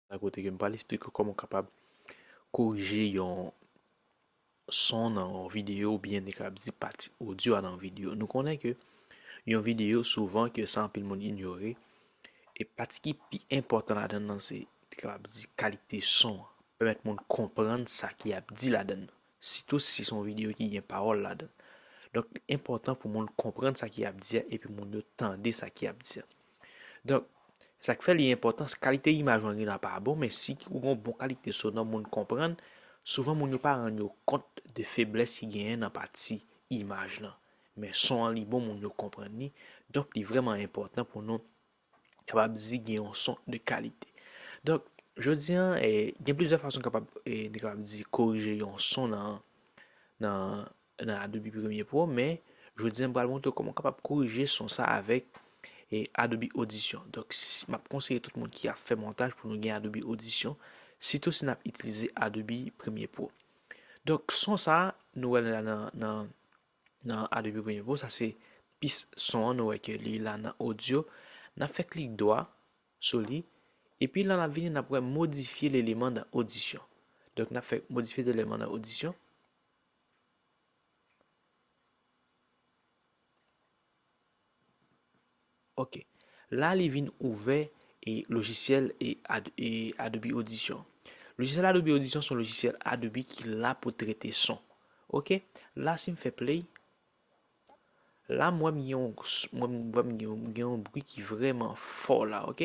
Nan kote ke m pral esplike w kòman w kapab korije yon son nan yon videyo ou byen kapab di pati odyo a nan yon videyo. Nou konnen ke yon videyo souvan ke sa anpil moun inyore e pati ki pi enpòtan ladan nan se te kapab di kalite son an. Pèmèt moun konprann sa ki ap di ladan nan. Sitou si se yon videyo ki gen pawòl ladan. Donk li enpòtan pou moun konprann sa ki ap di a epi moun yo tande sa ki ap di a. Donk, sa k fè li enpòtan, si kalite imaj ou an genlè pa bon, men si ou gen yon bon kalite sonò moun konprann, souvan moun yo pa rann yo kont de feblès ki genyen nan pati imaj lan. Men son an li bon moun yo konprann li, donk li vrèman enpòtan pou nou kapab di gen yon son de kalite. Donk, jodi an, e, gen plizyè fason kapab, e, nou kapab di korije yon son nan, nan, nan Adobe Premiere Pro, men, jodi an m pral montre w kòman w kapab korije son sa avèk, e, Adobe Audition. Donk, si, m ap konseye tout moun ki ap fè montaj pou nou gen Adobe Audition, sitou si n ap itilize Adobe Premiere Pro. Donk, son sa, nou wè l la nan, nan. Nan a depi premye pou sa se pis son an nou wè ke li la nan odyo nap fè klik dwa sou li epi lan lap vini nap wè modifye leleman nan odisyon donk nap fè modifye leleman nan odisyon. Ok la li vin ouvè e lojisyèl e adobe audition lojisyèl adobe audition son lojisyèl adobe ki la pou trete son ok la sim fè play la m wè m gen yon mwen m wè m gen yon bri ki vrèman fò la ok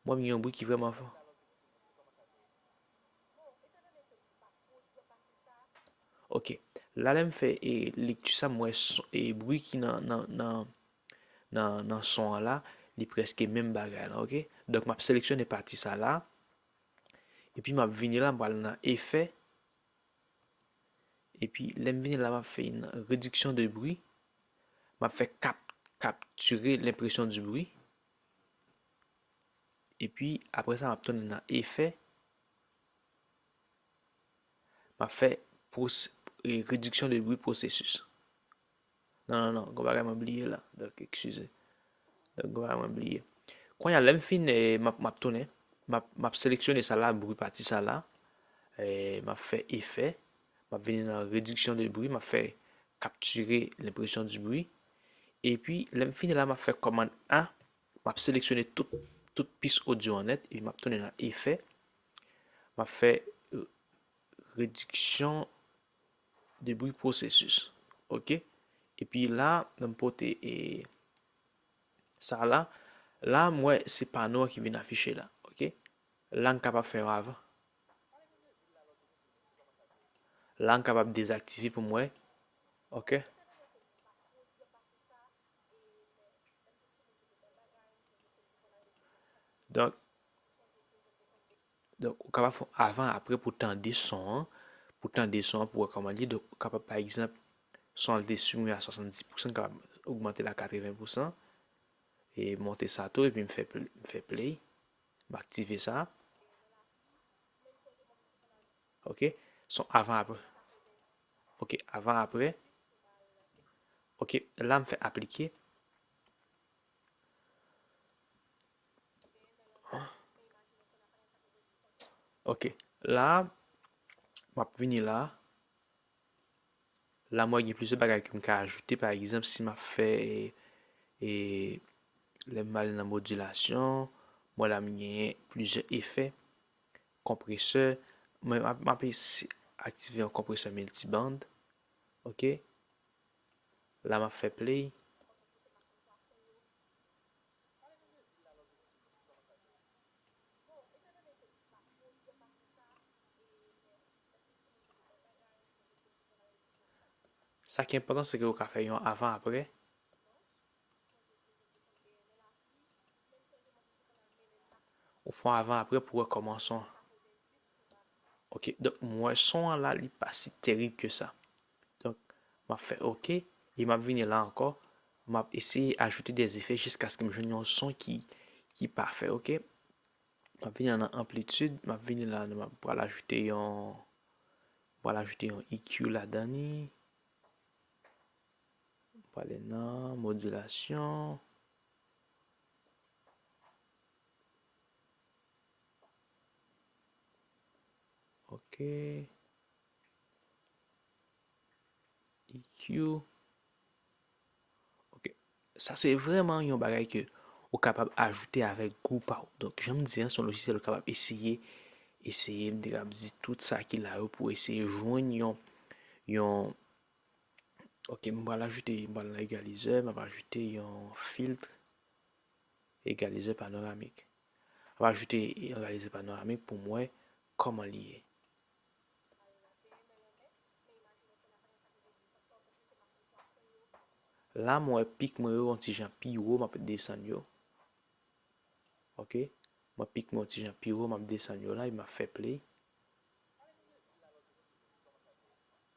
mwen m gen yon bri ki vrèman fò. Ok, la lè m fè e lekti sa m wè e bri ki nan nan nan nan nan son an la li prèske menm bagay la ok donk m ap seleksyone pati sa la epi m ap vini la m pral nan efè epi lè m vini la m ap fè yon rediksyon de bri m ap fè kap kaptire lenpresyon di bri. Epi apre sa map tounen nan efè, map fè rediksyon de bri pwosesis. Non non non, gon bagay mwen bliye la, donk ekskize. Donk gon bagay mwen bliye. Konya lèm fin eh, map tounen, map seleksyone sa la, bri pati sa la, eh, map fè efè, map vini nan rediksyon de bri, map fè kaptire lenpresyon di bri, epi lèm fin la map fè kòmann A, M ap seleksyone tout pis odyo an nèt epi m ap tounen nan efè. M ap fè rediksyon de bri pwosesis. Ok. Epi la, nan m pote e sa la. La m wè se pano an ki vin afiche la. Ok. La m kapab fè yon avan. La m kapab dezaktive pou m wè. Ok. Donk, donk ou kapab fè avan apre pou tande son an, pou tande son an pou wè kòman li, donk ou kapab pa egzanp son an li te simen a 70 pousan kapab ogmante l a 80 pousan e monte sa tou epi m fè m fè play, m aktive sa. Ok, son avan apre. Ok avan aprè. Ok la m fè aplike. Ok la m ap vini la. La mwen gen plizyè bagay ke m ka ajoute. Pa egzanp si m ap fè e lè m ale nan modilasyon mwen la m genyen plizyè efè. Konpresè, mwen m ap aktive yon konpresè miltiband. Ok. La m ap fè play. Sa ki enpòtan se ke ou ka fè yon avan aprè. Ou fon avan apre pou wè koman son. Ok, donk mwen son an la li pa si terib ke sa. Donk, m ap fè ok, e m ap vini la ankò, m ap eseye ajoute de efè jiskaske m jwenn yon son ki ki pafè ok. M ap vini la nan anplitid, m ap vini la m ap pral ajoute yon m pral ajoute yon EQ ladan li. Prale nan modilasyon. Ok. EQ. Ok. Sa se vreman yon bagay ke ou kapab ajoute avèk gou pa ou. Donk, janm di an, son lojisyèl ou kapab eseye. Eseye, m te kab di tout sa ki la yo pou eseye jwenn yon, yon. Ok m pral ajoute m pral nan egalizè map ajoute yon filtre egalizè panoramik map ajoute yon egalizè panoramik pou m wè kòman li ye. La m wè pik mwen yo yon ti jan pi wo map desann yo ok m wè pik mwen yon ti jan pi wo map desann yo la epi map fè play.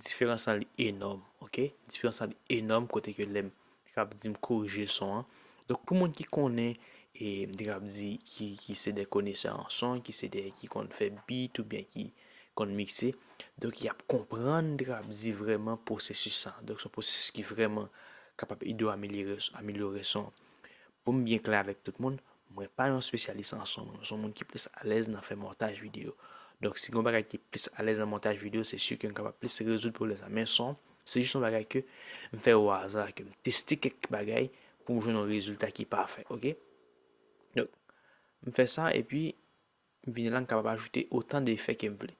Diferans lan li enòm ok. Diferans lan li enòm kote ke lèm te kab di m korije son an. Donk pou moun ki konnen e m te kab di ki se de konesè an son, ki se de ki konn fè beat ou byen ki konn mikse. Donk y ap konprann m te kab di vreman pwosesis sa. Donk se yon pwosesis ki vreman kapab ede w amelyore son. Pou m byen klè avèk tout moun, Mwen pa yon spesyalis an son, mwen son moun ki plis alèz nan fè montaj video. Donk si gen yon bagay ki plis alèz nan montaj video, se si ke m kapab plis rezoud pwoblèm sa. Men son, se jis yon bagay ke m fè o aza, ke m teste kèk bagay pou m jwenn yon rezilta ki pafè, ok. Donk, m fè sa epi m vini la m kapab ajoute otan de efè ke m vle.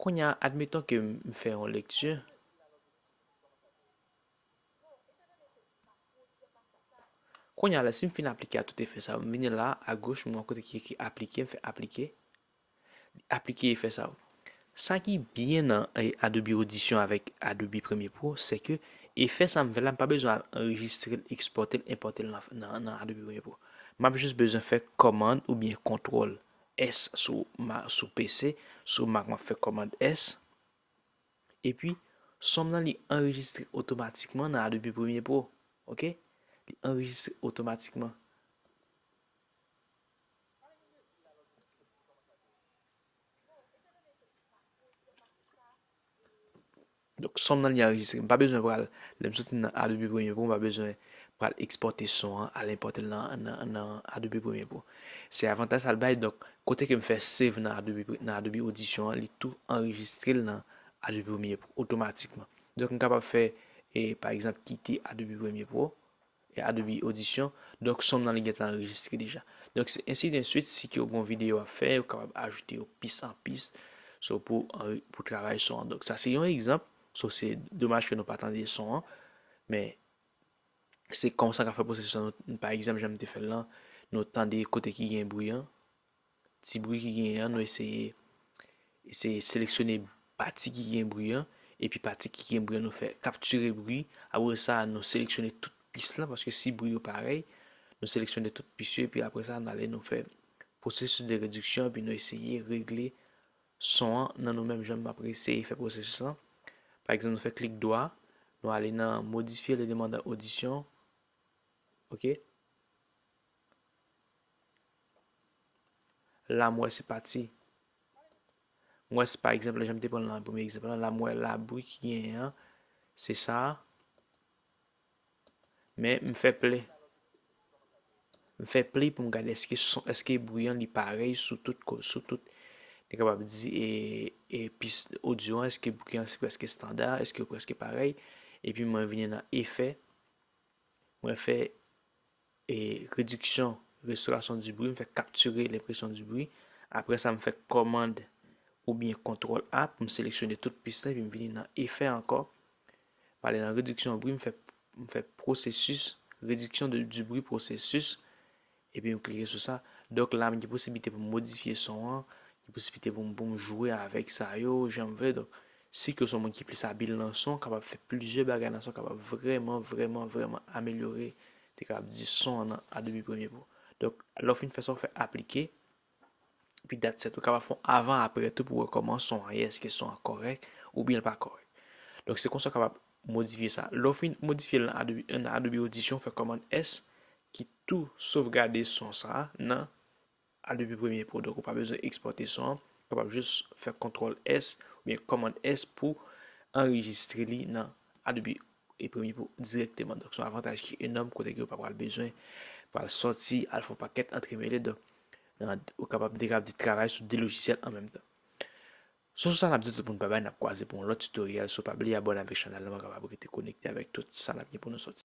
Kounya, admeton ke m fè yon lekti. Kounye a la, si m fin aplike a tout efè sa yo, m vini la, agoch, m wè yon kote ki ekri aplike, m fè aplike, li aplike efè sa yo. Sa ki byen nan Adobe Audition avèk Adobe Premiere Pro, se ke efè sa m fè la, m pa bezwen al anrejistre l, ekspòte l, enpòte l nan Adobe Premiere Pro. M ap jis bezwen fè kòmand oubyen kontwòl S sou PC, sou Mac m ap fè kòmand S. Epi, sòm nan li anrejistre otomatikman nan Adobe Premiere Pro. Ok? Li anrejistre otomatikman. Donk, sòm nan li anrejistre. M pa bezwen pral, lè m soti nan Adobe Premiere Pro, m pa bezwen pral ekspòte son an, al enpòte l nan Adobe Premiere Pro. Se avantaj sa l bay, donk, Kote ke m fè save nan Adobe nan Adobe Audition an li tou anrejistre l nan Adobe Premiere Pro otomatikman. Donk m kapab fè e pa egzanp kite Adobe Premiere Pro e Adobe Audition donk son m nan li gentan anrejistre deja. Donk se ensi de swit si ke w gon videyo w ap fè ou kapab ajoute yo pis an pis so pou anri pou travay son an. Donk sa se yon egzanp so se domaj ke nou pa tande son an men Se konsa ka fè pwosesis lan nou pa egzanp jan m te fè l lan nou tande kote ki gen bri an ti bri ki genyen an nou eseye eseye seleksyone pati ki gen bri an epi pati ki gen bri an nou fè kaptire bri apre sa nou seleksyone tout pis lan paske si bri yo parèy nou seleksyone tout pis yo epi apre sa nou ale nou fè pwosesis de rediksyon epi nou eseye regle son an nan nou menm jan map eseye fè pwosesis lan pa egzanp nou fè klik dwa nou ale nan modifye le demandan odisyon ok la m wè se pati m wè se pa egzanp la jan m te pran nan premye egzanp la la m wè labri ki genyen an se sa a. Men m fè pli m fè pli pou m gade eske son eske bri an li parèy sou tout ko sou tout li kapab di e e pis odyo an eske bri an se prèske standa eske yo prèske parèy epi mwen vini nan efè mwen fè Rediksyon, Restauration du bruit, m fè capturer l'impression du bruit. Aprè sa m fè kòmand oubyen kontwòl A pou m seleksyone tout pis la epi m vini nan Effet ankò. M ale nan Rediksyon bri, m fè, m fè processus, Réduction de, du bruit processus, epi m klike sou sa. Donk la m gen posiblite pou m modifye son an, gen posiblite pou m, pou m jwe avèk sa yo jan m vle. Donk Sik yo son moun ki plis abil nan son, kapab fè plizyè bagay nan son kapab vrèman vrèman vrèman amelyore te kapab di son an nan Adobe Premiere Pro. Donk lè w fin fè sa w fè aplike epi dat sèt. Ou kapab fè yon avan aprè tou pou wè kòman son an ye èske son an kòrèk oubyen l pa kòrèk. Donk se konsa w kapab modifye sa. Lè w fin modifye l nan Adobe Audition w fè kòmand S ki tou sovgade son sa nan A Depi premye po donk ou pa bezwen ekspòte son an, ou kapab jis fè kontrol S oubyen kòmand S pou anrejistre li nan Adobe e premye po dirèkteman. Donk son avantaj ki enòm kote ke ou pa pral bezwen pral sòti al fè yon pakèt antremele donk ou kapab de kap di travay sou 2 lojisyèl an menm tan. Sou sa nap di tout moun babay nap kwaze pou yon lòt tutorial so pa bliye abòne avèk chanèl lan ou kapab rete konekte avèk tout sa nap gen pou nou sòti.